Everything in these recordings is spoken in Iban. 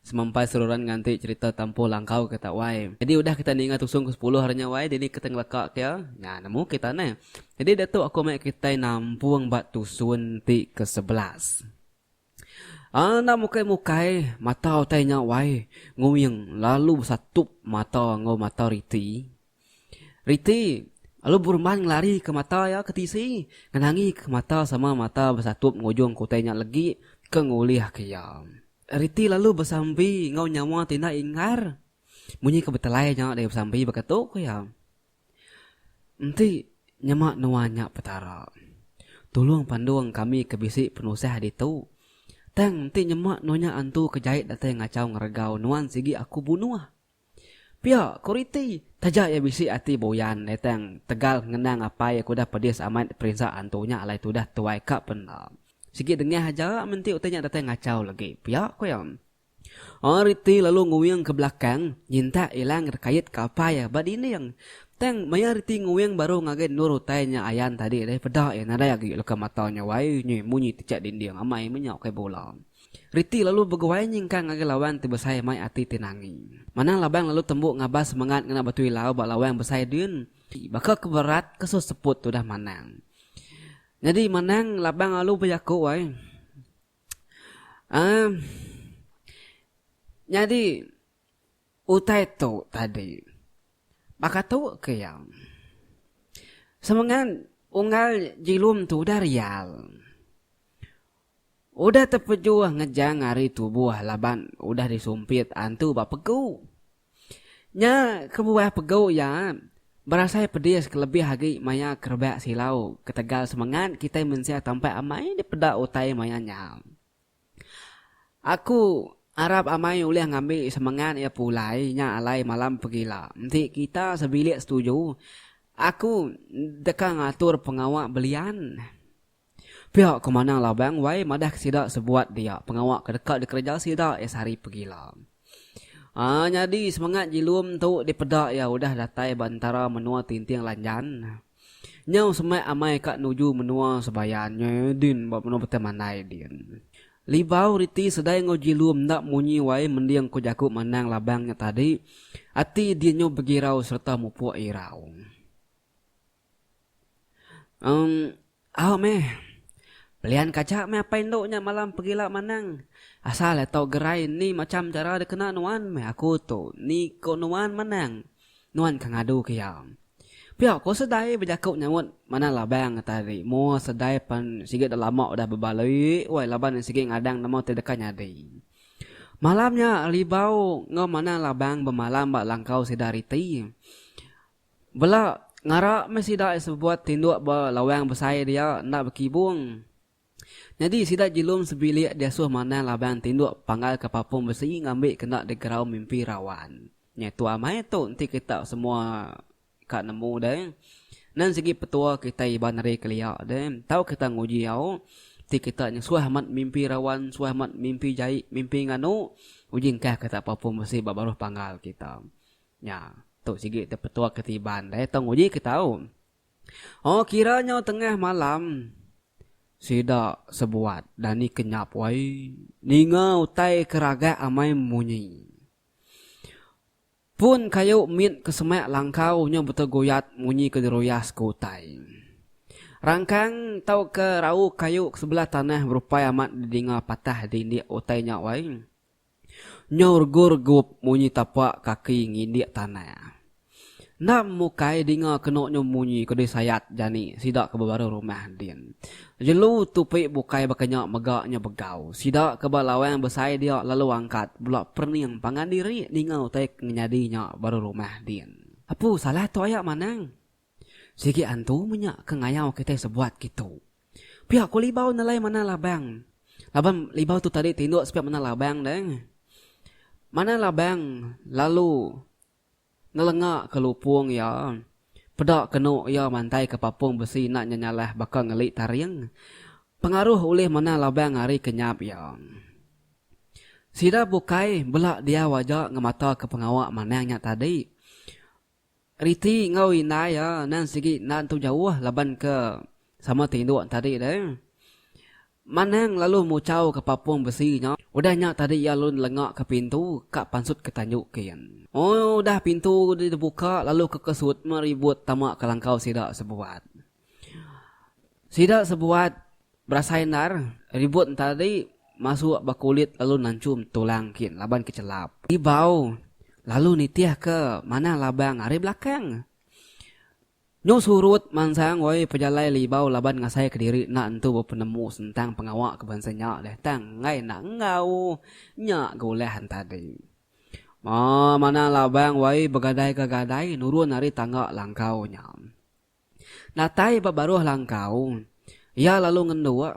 Semampai seruran nganti cherita Tampuh Langkau ke tak wai. Nyadi udah kita ninga tusung ke sepuluh hari nya wai dini kita ngeleka ke iya? Nya nemu kita neh. Nyadi diatu aku meh kitai nampung ba tusun ti ke sebelas. Aaa enda mukai mukai mata utai nya wai. Nguing lalu besatup mata enggau mata riti. Riti, lalu Burman ngelari ke mata iya ke tisi ngenangi ke mata sama mata besatup enggau ujung kutai nya legi ke ngulih ke iya. Riti lalu besambi enggau nyawa ti enda inggar munyi ke betelai nya daya besambi baka tu ku iya. Enti nyema nuan nya Petara. Tulung pandung kami ke bisi penusah ditu. Tang enti nyema nuan nya antu ke jai datai ngachau ngeregau nuan sigi aku bunuh. Pia ku Riti, taja iya bisi ati buyan netang tegal ngenang apai iya ke udah pedis amat perinsa antu nya alai ti udah tuai ka penda. Sigi dengah aja menti utai nya datai ngachau lagi, pia ku iya. Aa Riti lalu nguing ke belakang nyintak Ilang rekait ka apai iya ba dinding. Tang maya Riti nguing baru ngagai endur utai nya ayan tadi deh peda iya nadai agi leka mata nya wai munyi-munyi tichak dinding amai menyau kai bula. Riti lalu beguai nyingkang ngagai lawang ti besai mai ati ti nangi. Manang labang lalu tembu ngabas semengat ngena batu ilau ba lawang besai din. Baka ke berat ke su seput tudah Manang. Nyadi Manang labang alu bejaku ai. Aaa. Nyadi. Utai tu tadi, baka tu ke iya, semengan unggal jilum tu udah rial, udah tepejuh ngejang ari tubuh laban udah disumpit antu ba pegu. Nya kebuah pegu iya berasai pedis kelebih agi maya ke rebak silau ketegal semengan kitai mensia tampai amai dipeda utai maya nya. Aku arap amai ulih ngambi semengat iya pulai nya alai malam pegila. Enti kita sebilik setuju, aku deka ngatur pengawa belian. Pia ku Manang Labang wai madahka sida sebuat dia pengawa ke deka dikereja sida iya sehari pegila. Aaa nyadi semengat Jilum tu dipeda iya udah datai ba entara menua Tinting Lanjan. Nyau semak amai ka nuju menua sebaya nya din ba menua Betai Mandai din. Libau riti sedai enggau Jilum enda munyi wai mending ko jaku Manang Labang nya tadi, ati dinyo begirau sereta mupuk irau. Em. Au meh. Pelian kaja meh apai endu nya malam pegila manang. Asal iya tau gerai ni macham chara dikena nuan meh aku tu ni ko nuan manang. Nuan ka ngadu ke iya. Pia ko Sedai bejaku nyaut manah labang nya tadi. Moa Sedai pan sigi dah lama udah bebali wai laban iya sigi ngadang nama ti deka nyadi. Malam nya Libau enggau manah labang bemalam ba langkau sida riti. Bela ngara meh sida iya sebebuat tinduk ba lawang besai dia enda bekibung. Nyadi sida jilum sebilik diasuh manah laban tinduk panggal ke papung besi ngambi kena digerau mimpi rawan. Nya tu amai tu enti kita semua ka nemu deh. Nan sigi petua kitai iban ari kelia deh. Tau kita nguji au ti kita nya suah amat mimpi rawan, suah amat mimpi jai, mimpi nganu. Uji engkah kita papung besi ba baruh panggal kita. Nya, tu sigi tepetua ke Tiban deh tau nguji ke tau. Oh kira nyau tengah malam. Sida sebuat dani kenyap wai ninga utai ke ragak amai munyi. Pun kayu mit ke semak langkau nyau beteguyat munyi ke diruyas ke utai. Rangkang tauka rau kayu ke sebelah tanah berupai amat didinga patah dindik utai nya wai. Nyau regup-regup munyi tapa kaki ngindik tanah. Enda mukai dinga kenu nyu munyi ke disayat jani sida ke bebaru rumah din. Jelu tupi bukai baka nya mega nyu begau. Sida ke ba lawang besai dia lalu angkat bela perening pangan diri ninga utai ke nyadi nya baru rumah din. Apu salah tu aya Manang? Sigi antu menya ke ngayau kitai sebuat kitu. Pia ko libau nelai manah labang. Laban libau tu tadi tinduk sepia manah labang deh. Manah labang lalu nelenga ke lupung iya, peda kenu iya mantai ke papung besi enda nyenyalah baka ngeli taring. Pengaruh ulih manah labang ari kenyap iya. Sida bukai bela diau aja ngemata ke pengawa manah nya tadi. Riti enggau indai iya endang sigi enda nentu jauh laban ke sama ti indu entadi deh. Manang lalu muchau ke papung besi nya. Udah nya tadi iya lalu nelenga ke pintu ka pansut ke tanju kin. Udah pintu dibuka lalu ke kesut meh ribut tama ke langkau sida sebuat. Sida sebuat berasai endar ribut entara dei masuk ba kulit lalu nanchum tulang kin laban ke chelap. Ibau lalu nitih ke manang labang ari belakang. Nyu surut mansang woi pejalai le Ibau laban ngasai ke diri enda entu bepenemu sentang pengawa ke bansa nya deh tang enggai enda enggau nya ga ulah entadi. Manang labang woi begadai ke gadai nurun ari tangga langkau nya. Datai ba baruh langkau, iya lalu ngenduk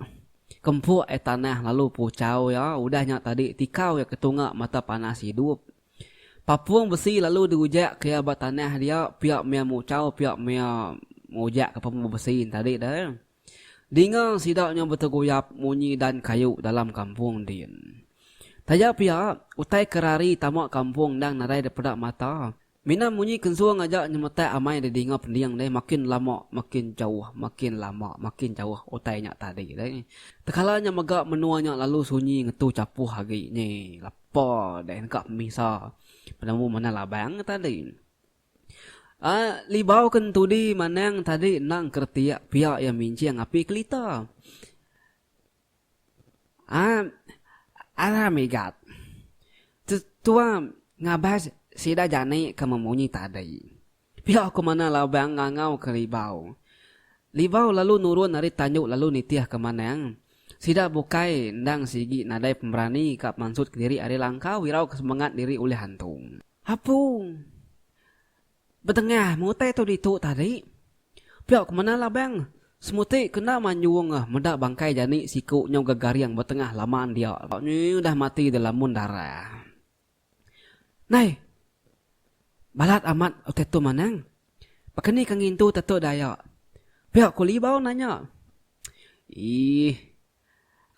ke empuk ai tanah lalu puchau iya udah nya tadi tikau iya ke tunga mata panas idup. Papung besi lalu diujak ke iya ba tanah dia pia maya muchau pia maya ngujak ke pembu besi nya tadi deh. Dinga sida nya beteguyap munyi dan kayu dalam kampung din. Taja pia, utai ke rari tama kampung endang nadai dipeda mata, Mina munyi kensung aja nyemetak amai didinga pending deh makin lama makin jauh makin lama makin jauh utai nya tadi deh. Tekala nya mega menua nya lalu sunyi ngetu chapuh agi nyi lepa deh neka pemisa penemu manah labang nya tadi. Ai libau ke entudi manang tadi endang keretiak pia iya minjing api kelita. Aap alah migat. Tetua ngabas sida jani ke memunyi tadi. Pia ku manah labang ngangau ke Libau. Libau lalu nurun ari tandu lalu nitih ke manang. Sida bukai endang sigi nadai pemberani ka pemansut kediri ari langkau irau ke semengat diri ulih antung. Apu. Betengah mengutai tu ditu tadi, pia ku mena Labang, semuti ke enda manyung meda bangkai jani siku nyau gegaring betengah laman dia nyau udah mati delamun darah. Nai, balat amat utai tu manang, baka ni ke ngintu tetu Dayak, pia ku Libau nanya. Ih,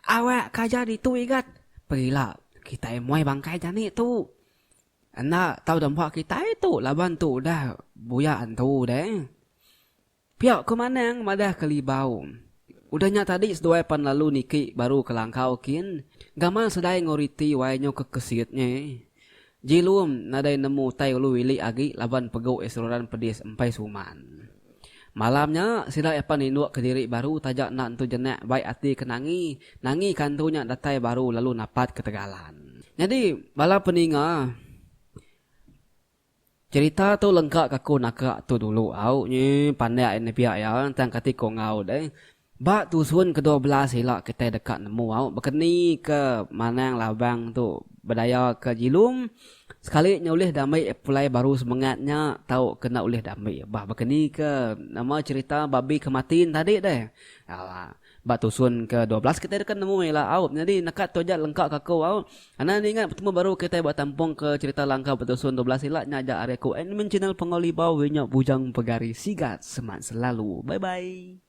Awak ka aja ditu Igat. Perila kitai muai bangkai jani tu. Enda tau dempa kitai tu laban tu udah buyak entu deh. Pia ku Manang madah ke Libau. Udah nya tadi seduai pan lalu niki baru ke langkau kin. Gamal sedai enggau riti wai nyu ke kesit nye. Jilum nadai nemu utai ulu ili agi laban pegu Esroran pedis empai suman. Malam nya, sida Epan ninduka diri baru taja enda entu jenak bai ati ke nangi, nangi ka entu nya datai baru lalu napat ketegalan. Nyadi, bala peninga cherita tu lengka ka ku naka tu dulu au, nyeh pandak iya nepiak iya tang kati ku enggau deh. Ba tusun kedua belas ila kitai deka nemu au bekeni ke manang labang tu bedaya ke jilum sekali nya ulih diambi pulai baru semengat nya tau ke enda ulih diambi bah bekeni ke nama cerita babi ke mati ne tadi deh aa ba tusun ke dua belas kitai deka nemu ila au nyadi neka tu aja lengka ka aku au anda enda ingat betemu baru kitai ba tampung ke cerita langkah ba tusun dua belas ila nya aja ari aku admin channel Punggau Libau inya Bujang Pegari Sigat semat selalu bye bye.